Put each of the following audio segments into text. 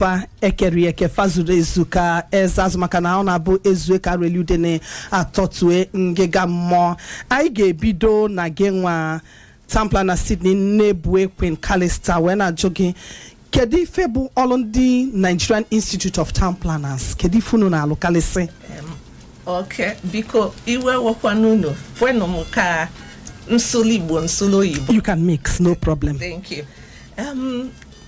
fa ekere eke fa zuru ezu ka eze azụ maka na ọ na-abụ ezue ka a ra eli udene atọtue ngịga mmụọ anyị ga-ebido na gị nwa town planner sydney nnebue queen kalista wee na-ajụ gị kedu ife bụ ọrụ ndị nigerian institute of town planners kedu ife unu na-alụ kalịsị okay biko iwe ewekwana unu kwenụ m ka m sụlụ igbo m sụlụ oyibo you can mix no problem thank you um,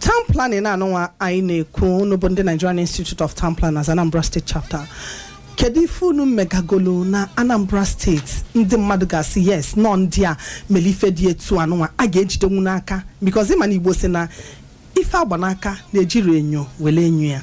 town planning anụnwa anyị na-ekwu unu bụ ndị nigerian institute of town planners anambra state chapter kedu ife unu megagolu na anambra steeti ndị mmadụ ga-asị yes na ọ ndị a mere ife dị etu anụnwa a ga-ejidenwu n'aka because ịma na igbo si na ife agba n'aka na ejirọ enyo were enyo ya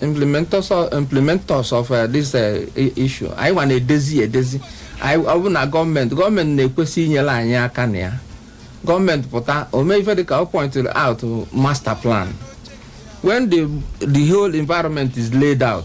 implementers of, implementers of uh, this uh, issue anyị nwa na-edezi edezi anyị ọ bụ na gọọmenti gọọmenti na-ekwesị inyere anyị aka na ya gọọmenti pụta o mee ife dịka ọ pointed out master plan when the the whole environment is laid out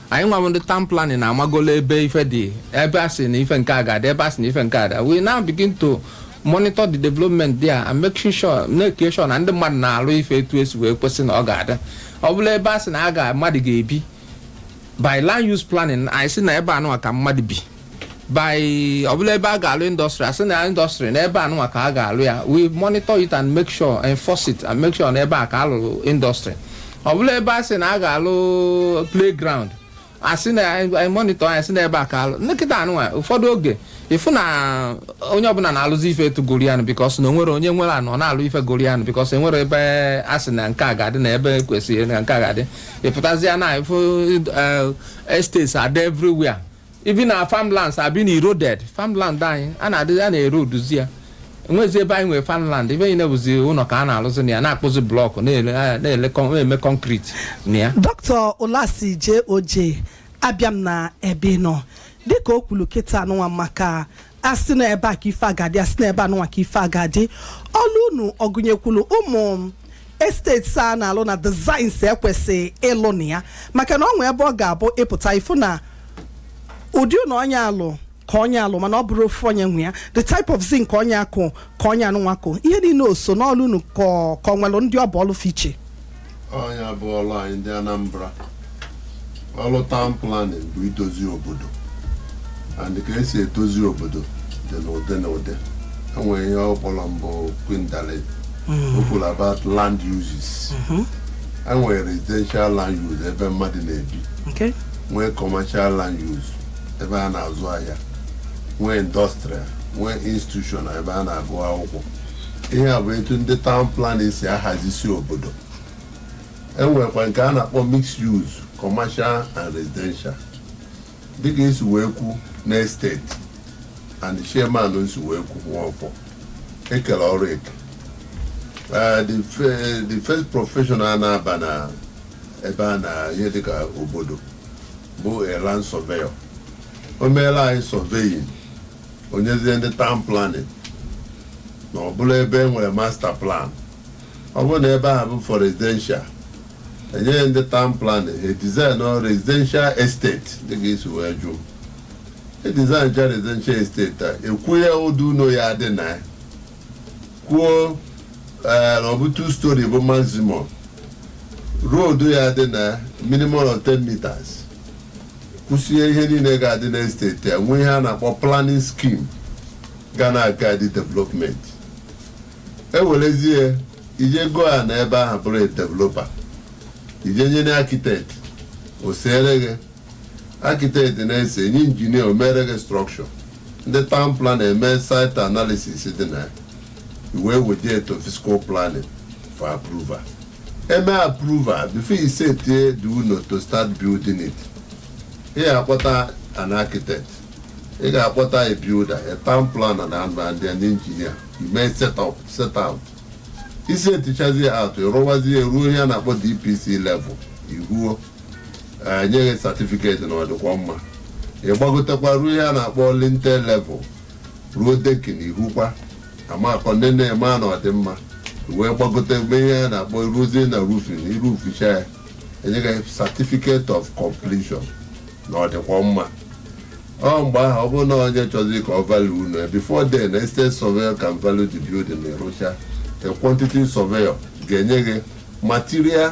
anyị nwa ndị town planning na-amagolo ebe ife dị ebe a sị na ife nke a ga-adị ebe a sị na ife nke a we now begin to monitor the development there and make sure na make sure na ndị mmadụ na-arụ ife etu esi wee kwesị na ọ ga-adị ọ bụlụ ebe a sị na a ga mmadụ ga-ebi by land use planning anyị sị na ebe anụnwa ka mmadụ bi ọ bụlụ ebe a ga-alụ industry a sị na industry na ebe anụnwa ka a ga-alụ ya we monitor it and make sure enforce it and make sure na ebe a ka a lụrụ industry ọ bụlụ ebe a sị na a ga-alụ playground asị na anyị monitor anyị sị n'ebe a ka alụ kịta anụnwa ụfọdụ oge ịfụ na onye ọbụla na-alụzi ife etu gụrụ ya nụ because na onwere onye nwere ana ọ na-alụ ife gụrụ ya nụ because enwerọ ebe a sị na nke a ga-adị na ebe kwesịrị na nke a ga-adị ịpụtazịa na ịfụ estates scattered everywhere even our farmlands are being eroded farmland anyị a na-adị a na-eroduzi ya enwezi ebe anyị nwere farmland ebe a niine bụzi ụlọ ka a na-arụzi na ya na-akpụzi block na-ele- na-ele con- na-eme concrete na ya dọkịta olasi je oje abịa m na ebe ị nọ dịka o kwuru kịta anụnwa maka asị na ebe a ka ife a ga-adị asị na ebe anụnwa ka ife a ga-adị ọlụ unu ọ gụnyekwuru ụmụ estate a na-alụ na designs ekwesị ịlụ na ya maka na ọ nwee ebe ọ ga-abụ ịpụta ị fụ na ụdị ụlọ onye a lụ ka onye a lụ mana ọ bụrụ ofu onye nwe ya the type of zinc ka onye a kụ ka onye anụnwa kụ ihe niine o so n'ọlụ unu ka ọ- ka ọ nwere ndị ọ bụ ọlụ fa iche ọ nya bụ ọrụ anyị ndị anambra ọrụ town planning bụ idozi obodo and ka esi edozi obodo dị n'ụdị na ụdị enwere ihe ọ kpọrọ mbụ kwindale o kwuru about land uses enwere residential land use ebe mmadụ na-ebi okay nwee commercial land use ebe a na-azụ ahịa nwee industrial nwee institutional ebe a na-agụ akwụkwọ ihe a bụ etu ndị town planner si ahazisi obodo e nwekwa nke a na-akpọ mixed use commercial and residential dịka e si wee kwu na estate and chairman si wee kwu nwaọfọ ekele ọrụ eke Eh, the fe- the first professional na-aba na ebe a na ihe dịka obodo bụ a land surveyor o meela anyị surveying o nyezie ndị town planner na ọ bụla ebe e nwere master plan ọ bụrụ na ebe ahụ bụ for residential e nye ndị town planner ha design ọ residential estate dị ka i si wee jụọ e design cha residential estate a e kwuo ụdị ụlọ ya-adị na ya kwuo eh, na ọ bụ two story bụ maximum road ya-adị na minimum of 10 meters kwụsie ihe niile ga-adị na estate a nwee ihe a na-akpọ planning scheme ga na-aguide development e werezie i je goo ana ebe ahụ bụrụ developer i je nye an architect o seere gị architect na-ese e nye engineer o meere gị structure ndị town planner emee site analysis dị na ya i wee weje to physical planning for approval e mee approval before you set the ụnọ to start building it ị ga-akpọta an architect ị ga-akpọta a builder a town planner na and and an engineer i mee set up set out i setichazie out rụwazie ruo ihe a na-akpọ DPC level ị hụọ e nye gị certificate na ọ dịkwa mma ị gbagotekwa ruo ihe a na-akpọ lintel level ruo decking ị hụkwa amakọ ndị na-eme a na ọ dị mma wee gbagote mgbe ihe a na-akpọ ruzie na roofing i roofcha ya e nye gị certificate of completion na ọ dịkwa mma ọ mgbe ahụ ọ bụrụ na onye chọzie ka ọ value ụnọ ya before then estate surveyor can value the building na ị rụcha a quantity surveyor ga-enye gị material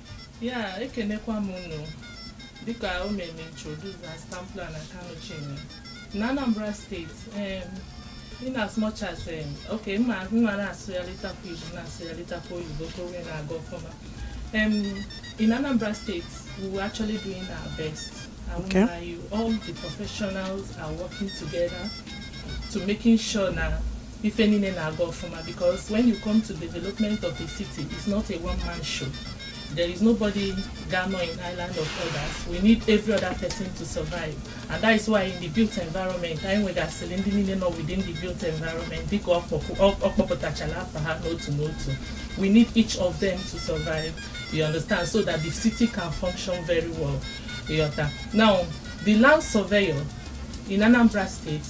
ya ekenekwa m unu dịka o mere introduce as town planner Kanu Chinwe na Anambra State em, in as much as em, okay m ma m ma na-asụgharịtakwa Igbo na-asụgharịtakwa oyibo ka o wee na-aga ọfụma em, in Anambra State we were actually doing our best I won't Okay. lie you all the professionals are working together to making sure na ife niile na-aga ọfụma because when you come to development of a city it's not a one man show there is nobody ga-anọ in island of others we need every other person to survive and that is why in the built environment anyị nwegasịrị ndị niile nọ within the built environment dịka ọ kpọpụtachara afa ha n'otu n'otu we need each of them to survive you understand so that the city can function very well ị ghọta now the land surveyor in Anambra State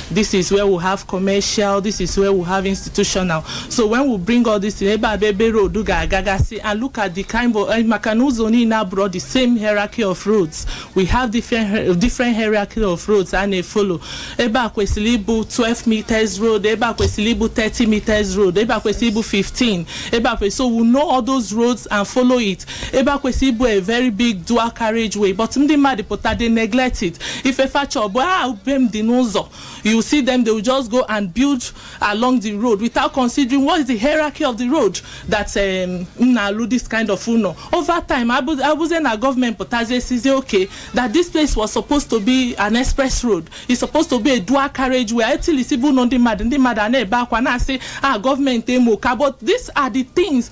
this is where we have commercial this is where we have institutional so when we bring all this in ebe a bụ ebe road ga-agagasị and look at the kind of eh, maka na ụzọ niile abụrọ the same hierarchy of roads we have different hier- different hierarchy of roads a na-efolo ebe a kwesịrị ịbụ 12 meters road ebe a kwesịrị ịbụ 30 meters road ebe a kwesịrị ịbụ 15 ebe a kwesịrị so we know all those roads and follow it ebe a kwesịrị ịbụ a very big dual carriage way but ndị mmadụ pụta they neglect it ife fa chọọ bụ ah be m dị n'ụzọ you see them they will just go and build along the road without considering what is the hierarchy of the road that um, m na-alụ this kind of ụlọ over time abụ- abụzie na gọọmenti pụtazie sịzie okay that this place was supposed to be an express road it's supposed to be a dual carriage way etilisibe ụlọ ndị mmadụ ndị mmadụ a na-ebe akwa na-asị ah gọọmenti emo ka but these are the things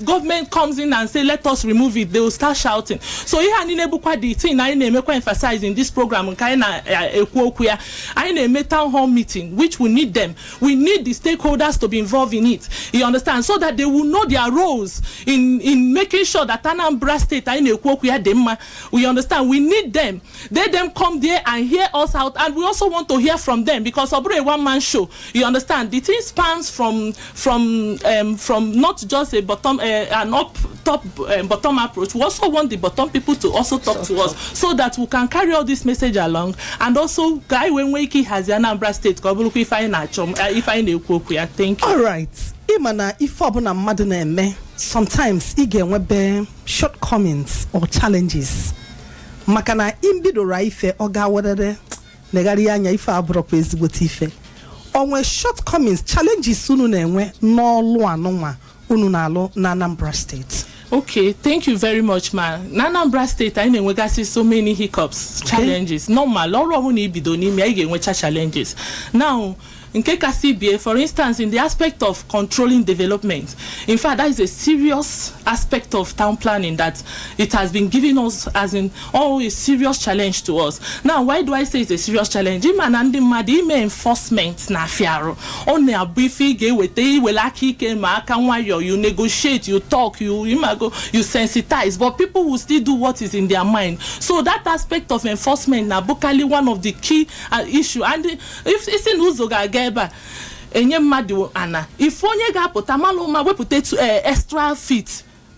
government comes in and say let us remove it they will start shouting so ihe a niile bụkwa the thing anyị na-emekwa emphasize in this program nke anyị na-ekwu okwu ya anyị na-eme town hall meeting which we need them we need the stakeholders to be involved in it you understand so that they will know their roles in in making sure that Anambra state anyị na-ekwu okwu ya dị mma you understand we need them let them come there and hear us out and we also want to hear from them because ọ bụrọ a one man show you understand the thing spans from from um, from not just a bottom uh, an up top um, bottom approach we also want the bottom people to also talk to us so that we can carry all this message along and also ka anyị wee nwee ike ihazi anambra steeti ka ọ bụrụkwa ife anyị na-achọ uh, ife anyị na-ekwu okwu ya thank you alright ị ma na ife ọbụla mmadụ na-eme sometimes ị ga-enwebe shortcomings or challenges maka na i bidoro ife ọ gaa werere negharịa anya ife abụrọkwa ezigbote ife o nwee shortcomings challenges unu na-enwe n'ọlụ anụnwa unu na-alụ na Anambra steeti okay thank you very much ma na anambra steeti anyị na-enwegasị so many hiccups challenges normal ọrụ ọbụla i bido na-eme anyị ga-enwecha challenges now nke kasị ibe ya for instance in the aspect of controlling development in fact that is a serious aspect of town planning that it has been giving us as in all a serious challenge to us now why do i say it's a serious challenge ị ma na ndị mmadụ ime enforcement na-afịa arụ ọ na-abụ ife ị ga-eweta i wele aka ike ma aka nwayọọ you negotiate you talk you ị mago you sensitize but people will still do what is in their mind so that aspect of enforcement na-abụkalị one of the key uh, issue and If- ị sị na ụzọ ga-aga ebe a e nye mmadụ ana ị fụ onye ga-apụta malụ ụma wepụta tu- eh, extra feet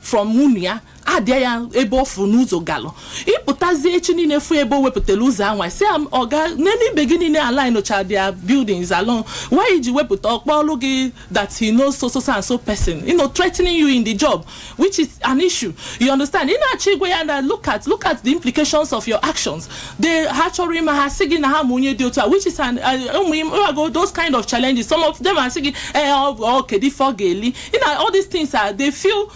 from ụnọ ya addịa ya ebe ọ fụ n'ụzọ galụ ị pụtazie echi niile fụ ebe o wepụtara ụzọ anwa sị am ọga nene ibe gị niile alignụcha their buildings along why i ji wepụta ọkpụlọ gị that he knows so so so and so person you know threatening you in the job which is an issue you understand ị na-achọ ịgwa ya na look at look at the implications of your actions they ha chọrọ ime ha sị gị na ha ma onye dị otu a which is an uh, ụmụ im- ụmụ all those kind of challenges some of them asị gị eh ọ ọ kedu ife ọ ga-eli you know all these things are they feel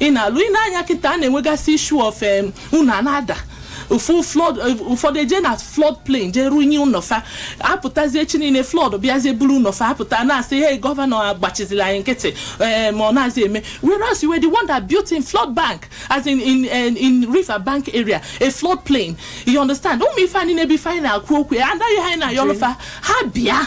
ị na-alụ i nee anya kịta a na-enwegasị issue of em, ụnọ na-ada of flood ụfọdụ eje na flood plain jee rụnye ụlọ fa apụtazie echi niile flood bịazie buru ụlọ fa apụta na-asị hey gọvanọ agbachizila anyị nkịtị eh, ma ọ na-azị eme whereas you were the one that built in flood bank as in in, in, in river bank area a flood plain you understand ụmụ ife a niine bụ ife anyị na-ekwu okwu ya anaghị ha anyị na-ayọlụ fa ha bịa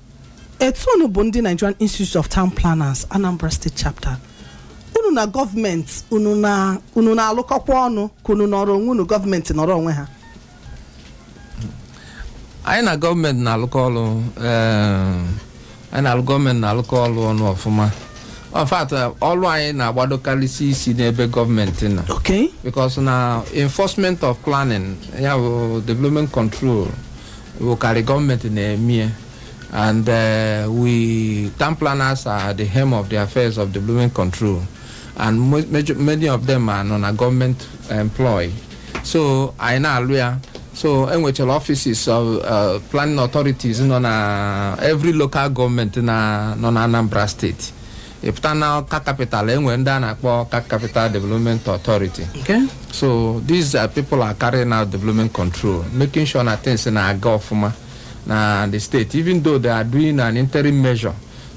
etu unu bụ ndị nigerian institute of town planners anambra state chapter unu na gọọmenti unu na unu na-alụkọkwa ọnụ ka unu nọrọ onwe unu gọọmenti nọrọ onwe ha anyị na gọọmenti na-alụkọ ọrụ eh, anyị na gọọmenti na-alụkọ ọrụ ọnụ ọfụma in fact ọrụ anyị na-agbadokarịsị isi n'ebe gọọmenti nọ okay because na enforcement of planning ya bụ development control wụkarị gọọmenti na-eme ya and uh, we town planners are the helm of the affairs of development control and mo- major- many of them are nọ na gọọmenti employ so anyị na-alụ ya so e nwechara offices of uh, planning authorities nọ na every local government na nọ na anambra state ịpụta na ọka kapital enwere ndị a na-akpọ ọka kapital development authority Okay. so these are people are carrying out development control making sure na things na-aga ọfụma na the state even though they are doing an interim measure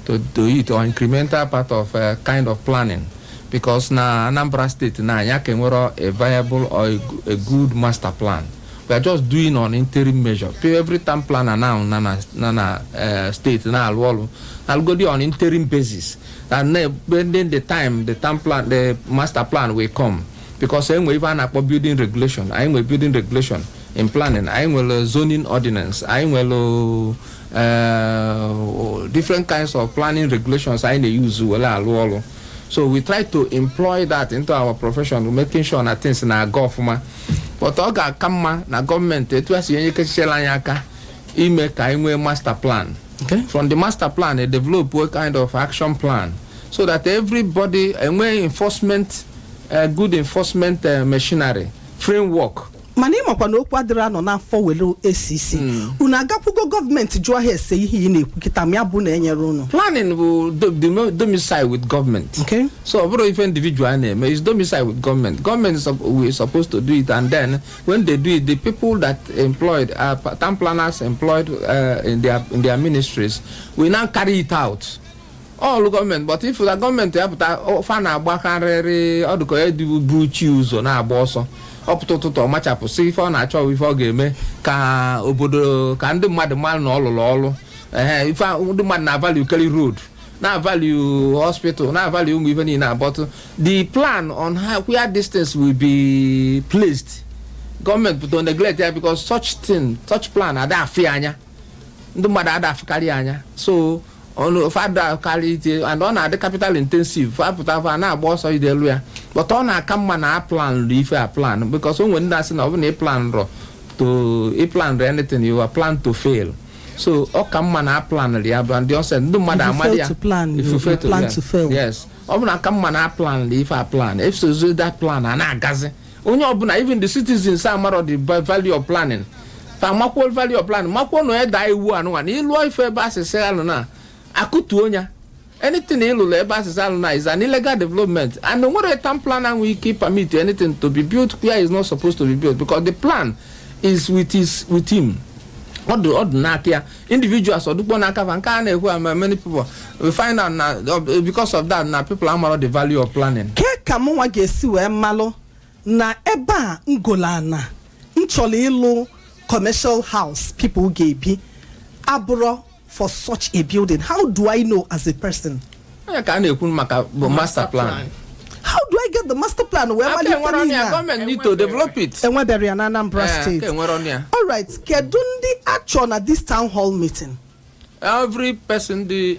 to do it or incremental part of uh, kind of planning because na anambra state na anya ka enwero a viable or a, go- a good master plan we are just doing on interim measure every town planner nọ na na na na eh, state na-alụ ọrụ alụgodi on interim basis and then pending the time the town plan the master plan will come because e nwe ife a na-akpọ building regulation anyị nwere building regulation in planning anyị nwere zoning ordinance anyị nwere eh, different kinds of planning regulations anyị na-eyuzu were alụ ọrụ so we try to employ that into our profession making sure na things na-aga ọfụma but ọ ga-aka mma na gọọmenti etu a si enye kechichala anyị aka ime ka anyị nwee master plan Okay. from the master plan they develop a kind of action plan so that everybody e nwee enforcement uh, good enforcement uh, machinery framework mana ị makwa na okwu adịrọ anọ n'afọ were acha unu agakwugo gọọmenti jụọ ha ese ihe ị na-ekwu kịta ma ya bụ na enyere unu planning will do, do, domicile with government okay so ọ bụrọ ife individual na-eme is domicile with gọọmenti gọọmenti were supposed to do it and then when they do it the people that employed are uh, town planners employed uh, in, their, in their ministries will now carry it out all gọọmenti but ị fụ na gọọmenti apụta fa na-agbakarịrị ọ dụ ka e buru chi ụzọ na-agba ọsọ ọ pụta ụtụtụ ọ machapụsịa ife ọ na-achọ ife ọ ga-eme ka obodo ka ndị mmadụ malụ na ọ lụrụ ọrụ ee ife ndị mmadụ na-avalue karị road na-avalue hospital na-avalue ụmụ ife niile but the plan on how where these things will be placed gọọmenti pụta neglect ya because such thing such plan ada afụ ya anya ndị mmadụ ada afụkarị ya anya so ọnụ fada karị ite and ọ na-adị capital intensive fa pụta fa na-agba ọsọ ide elu ya but ọ na-aka mma na a planụrụ ife aplan because o nwere ndị sị na ọ bụ na ị planrọ to ị planrọ anything you are plan to fail so ọ ka mma na a planụrụ ya bụ ndị ọsọ ndị mmadụ amadi ya if you fail to plan to fail yes ọ bụ na ọ ka mma na a planụrụ ife aplan e wee sozuo that plan a na-agazi onye ọbụla even the citizens amarọ the value of planning fa makwuo value of planning makwuo na a daa iwu anụnwa na ịlụọ ife ebe a sị sị alụna a kụtuo ya anything ị lụrụ ebe a sị sị alụna is an illegal development and o nwerọ town planner nwe ike ịpermit anything to be built where it's not supposed to be built because the plan is with his with him ọ dụ ọ dụ n'aka ya individuals ọ dụrọ n'aka fa nke a na-ekwu ama many people we find out na because of that na people amarọ the value of planning kee ka mụnwa ga-esi wee malụ na ebe a m golu ana m chọrọ ịlụ commercial house people ga-ebi abụrọ for such a building how do i know as a person onye ka a na-ekwu maka bụ master plan how do i get the master plan wee aka malite e nwerọnụ niile ya a? gọọmenti need to develop it e nweberọ ya na anambra Eh, aka steeti e nwerọnụ ya all right kedu ndị a chọrọ na this town hall meeting every person dị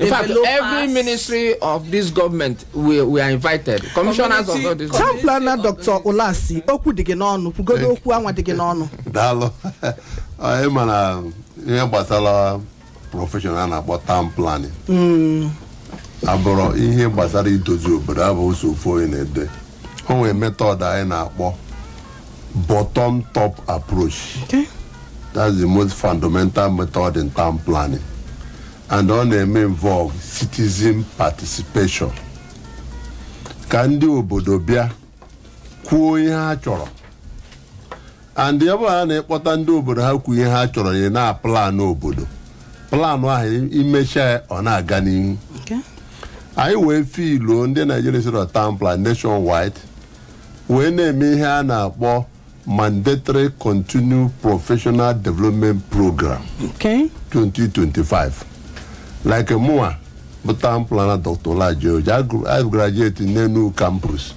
In fact, every ministry of this government we, were invited. Commissioners of all this. Town planner Dr. Olasi, okwu dị gị n'ọnụ, kwugodu okwu anwa dị gị n'ọnụ. Daalụ. Anyị ma na ihe gbasara profession a na-akpọ town planning. Hmm. Ọ bụrụ ihe gbasara idozi obodo abụrọ sọ ofu onye na-ede. O nwere method anyị na-akpọ bottom top approach. Okay. That's the most fundamental method in town planning. and ọ na-eme involve citizen participation ka ndị obodo bịa kwuo ihe ha chọrọ and ọ bụrụ na ị kpọta ndị obodo ha kwuo ihe ha chọrọ tinye na plan obodo plan ahụ i mechaa ya ọ na-aga n'ihu Okay. anyị wee filuo ndị nigerian institute of town planners nationwide wee na-eme ihe a na-akpọ mandatory continued professional development program okay 2025 like mụnwa bụ town planner dr olaji oji i graduate n'Enugu campus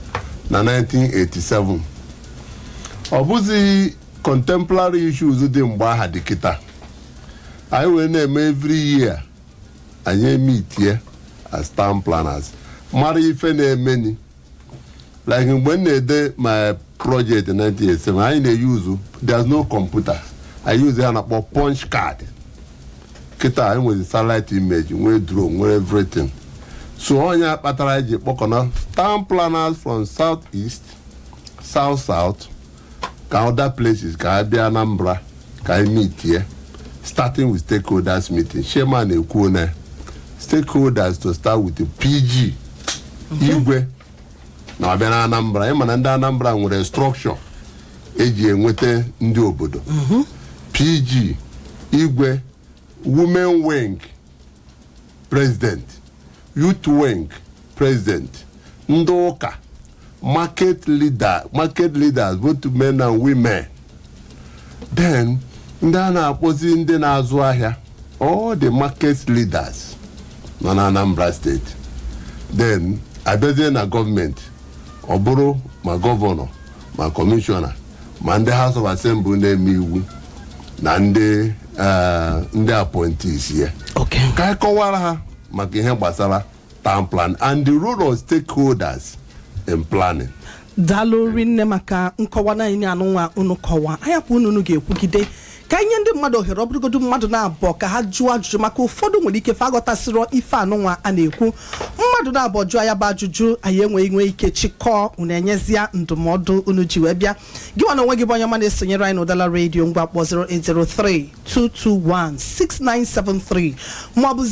na 1987 ọ bụzi contemporary issues dị mgbe ahụ dị kịta anyị wee na-eme every year anyị emeetie as town planners mara ife na-emeni like mgbe m na-ede my project 1987 anyị na-euse there's no computer a use ihe a na-akpọ punch card kịta anyị nwere satellite image nwee drone nwee everything so ọ nya kpatara anyị ji kpọkọna town planners from south east south south ka other places ka a bịa Anambra ka anyị meetie starting with stakeholders meeting chairman ekwuo na stakeholders to start with the PG igwe na ọ bịa na Anambra ị ma na ndị Anambra nwere structure e ji enweta ndị obodo PG igwe women wing president youth wing president ndị ụka market leader market leaders both men and women then ndị a na-akpọzi ndị na-azụ ahịa all the market leaders nọ na anambra state then a bịazie na government ọ bụrụ ma governor ma commissioner ma ndị House of Assembly na-eme iwu na ndị eh, ndị appointees ya okay ka anyị kọwara ha maka ihe gbasara town planning and the role of stakeholders in planning daalụ rinne maka nkọwa niine anụnwa unu kọwa a yapụ unu unu ga-ekwugide ka anyị nye ndị mmadụ ohere ọ bụrụgodu mmadụ naabọ ka ha jụọ ajụjụ maka ụfọdụ nwere ike fa aghọtasịrọ ife anụnwa a na-ekwu mmadụ naabọ jụọ ya bụ ajụjụ anyị enwee nwee ike chịkọọ unu enyezie ndụmọdụ unu ji wee bịa gị nwa n'onwe gị bụ onye ọma na-esonyere anyị n'Udala radio ngwa kpọ 08032216973 maọbụ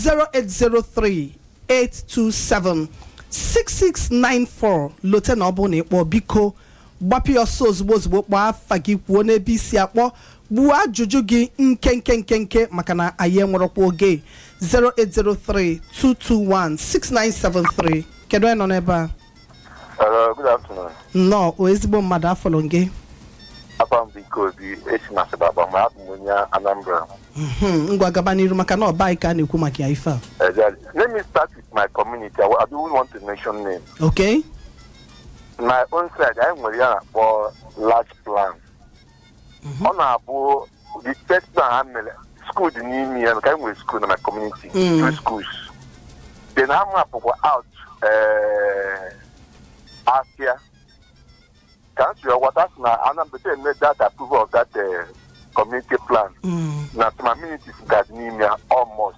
08038276694 lote na ọ bụrụ na ị kpọọ biko gbapụ ya ọsọ ozugbo ozugbo kpọọ afa gị kwuo n'ebe i si akpọ gbuo ajụjụ gị nkenke nkenke maka na anyị enwerọkwa oge 08032216973 kedu onye nọ n'ebe a Hello, good afternoon. nnọọ o ezigbo mmadụ afa gị Afa m bụ Ike Obi, esi na Asaba akpọ, ma abụ m onye Anambra. Mhm, ngwa gaba n'iru maka na ọ bụ anyị ka a na-ekwu maka ya ife a Exactly. Let me start with my community. I, wa- I don't want to mention name. okay my own side anyị nwere ihe a na-akpọ large plan ọ na-abụ the first plan ha mere skuul dị n'ime ya ka anyị nwere skuul na my community Mm. two schools then ha mapụkwa out eh, afia ka m si ghọta sị na a na-eme that approval of that eh, community plan Mm. na some amenities ga-adị n'ime ya almost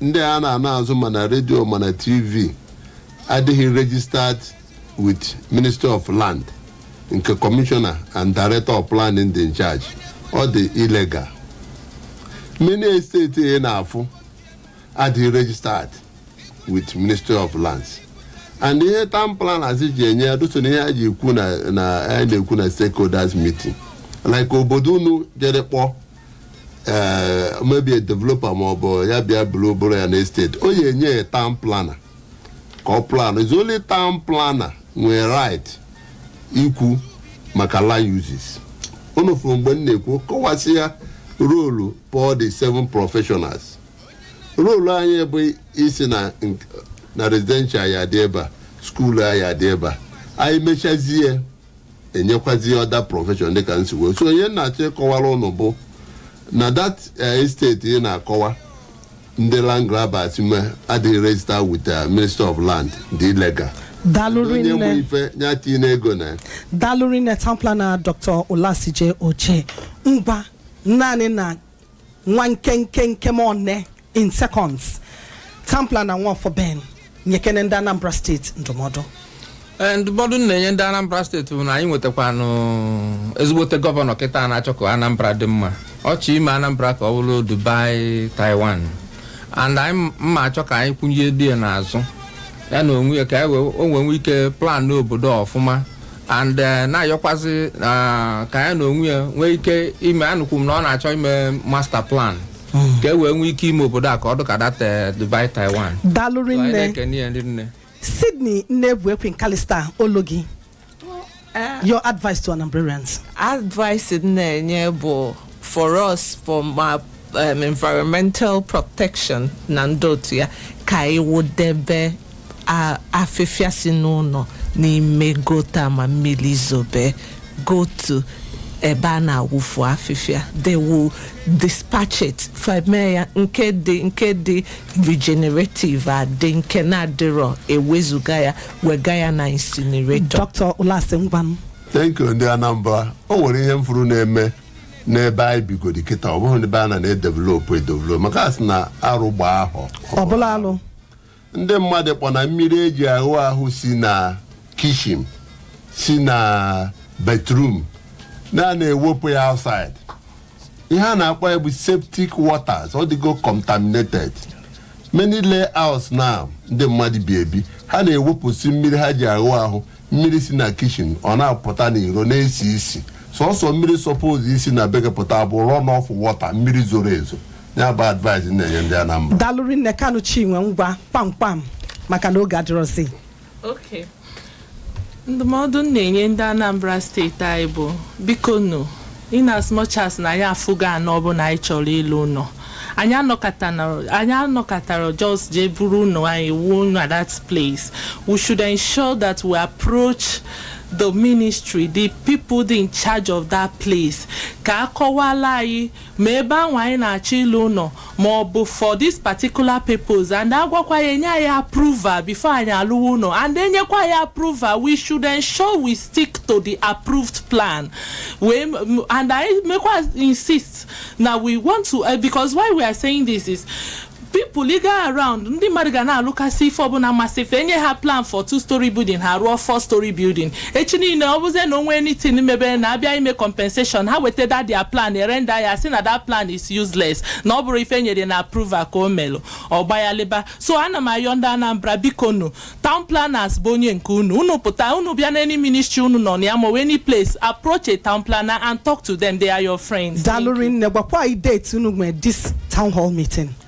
ndị a na-ana azụ ma na redio ma na tv adịghị registered with ministry of land nke commissioner and director of planning dị in charge ọ dị illegal many estate ị na-afụ adịghị registered with ministry of lands and ihe town planners ji enye ya doso na ihe a ji ekwu na na a na-ekwu na stakeholders meeting like obodo unu jere kpọọ ee maybe developer ma ọ bụ ya bịa buru bụrụ ya na esteti ọ ya-enye ya town planner ka ọ plan is only town planner nwere right ikwu maka land uses unu fụrụ mgbe m na-ekwu kọwasịa role of the seven professionals role anyị bụ ịsị na nk- na residential ya-adị ebe a skuulu ya-adị ebe a anyị mechazie enyekwazie other profession dịka m si kwuo so ihe m na-achọ ịkọwara unu bụ na that esteti ị na-akọwa ndị land grabbers nwe adịghị register with uh, ministry of land dị illegal dalụri onye nwe nne ife ya tinye ego na ya daalụ rinne town planner dr ụlasị je oche ngwa naanị na nwa nkenke nkem one in seconds town planner nwaọfọ ben nyekene ndị anambra steeti ndụmọdụ Ee, ndụmọdụ m na-enye ndị anambra steeti bụ na anyị nwetakwanụ ezigbote gọvanọ kịta na-achọ ka anambra dị mma ọ chọ ime anambra ka ọ bụrụ dubai taiwan and anyị nwa achọ ka anyị kwụnyere ya n'azụ ya na onwe ya ka anyị wee- o nwee nwee ike plan obodo a ọfụma and eh, na-ayọkwazi ah, ka ya na onwe ya nwee ike ime anụkwu m na ọ na-achọ ime master plan ka e wee nwee ike ime obodo a ka ọ dịka that eh, Dubai Taiwan daalụ So, anyị rinne na-ekene ya ndị nne sydney nnebu ekwe nkalista olu gị your advice to anambrarians advice m na-enye bụ for us for ma um, environmental protection na ndị otu ya ka anyị wụdebe a- afịfịa si n'ụlọ n'ime gọta ma mmiri zobe go to ebe a na-awụfu afịfịa they will dispatch it feme ya nke dị nke dị regenerative adị nke na-adịrọ e wezuga ya wega ya na incinerator dr ụlasị ngwanụ thank you ndị anambra o nwere ihe m fụrụ na-eme n'ebe anyị bigodi kịta ọ bụghị n'ebe a na na-edevelopụ edevelop maka a sị na arụ gbaa ahọ ọ bụrụ alụ ndị mmadụ kpọ na mmiri eji aghụ ahụ si na kitchen si na bathroom na na-ewepụ ya outside ihe a na-akpọ ya bụ septic waters ọ dịgo contaminated many layouts na ndị mmadụ bi ebi ha na-ewepụsị mmiri ha ji aghụ ahụ mmiri si na kitchen ọ na-apụta n'iro na-esi isi sọsọ mmiri suppose isi na be gị pụta bụ run off water mmiri zoro ezo ya bụ advice m na-enye ndị Anambra daalụ rinne kanu chinwe ngwa kpamkpam maka na oge adịrọzi Okay. ndụmọdụ m na-enye ndị anambra steeti anyị bụ biko nụ In as much as na anyị afụgo ana ọbụla anyị chọrọ ịlụ ụnọ, anyị anọkatana anyị anọkatara just jee buru ụlọ anyị wuo ụlọ at that place. We should ensure that we approach the ministry, the people dị in charge of that place ka a kọwaala anyị ma ebe ahụ anyị na-achọ ịlụ ụnọ ma ọ bụ for this particular purpose and a gwakwa ya enye anyị approval before anyị alụwa ụlọ and enyekwa anyị approval we should ensure we stick to the approved plan wee m- and anyị mekwa insist na we want to uh, because why we are saying this is people ị gaa around ndị mmadụ ga na-alụkasị ife ọbụla masị fa enye ha plan for two story building ha rụọ four story building echi niine ọ bụzie na o nwee anything mebere na a bịa ime compensation ha weta that their plan e render ya sị na that plan is useless na ọ bụrọ ife nyere na approval ka o melụ ọ gbayalịba so ana m ayọ ndị anambra biko nu town planners bụ onye nke unu unu pụta unu bịa na any ministry unu nọ na ya ma ọ bụ any place approach a town planner and talk to them they are your friends daalụ rinne gwakwa anyị date unu nwere this town hall meeting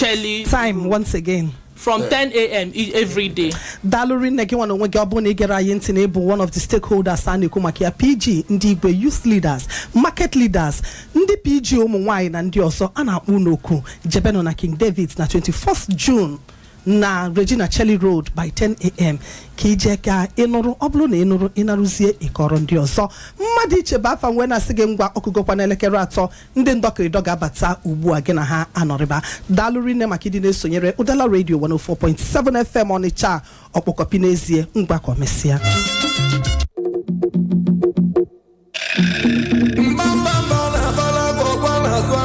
caeli time once again from 10 a.m. e- every day daalụ rinne gị nwa na onwe gị ọ bụrụ na ị gere anyị ntị na ị bụ one of the stakeholders a na-ekwu maka ya pg ndị igwe youth leaders market leaders ndị pg ụmụ nwaanyị na ndị ọzọ a na-akpọ unu oku jebenụ na king david na 21st june na regina caeli road by 10am ka i jee ka ị nụrụ ọ bụrụ na ị nụrụ ị narụzie ị kọọrọ ndị ọzọ mmadụ iche bụ afa m wee na-asị gị ngwa ọkụgokwa n'elekere atọ ndị ndọkịrịdọ ga-abata ugbu a gị na ha anọrịba daalụ rinne maka ịdị na-esonyere ụdala redio 104.7 fm ọnịcha a, ọkpọkọpi n'ezie ngwa ka o mesịa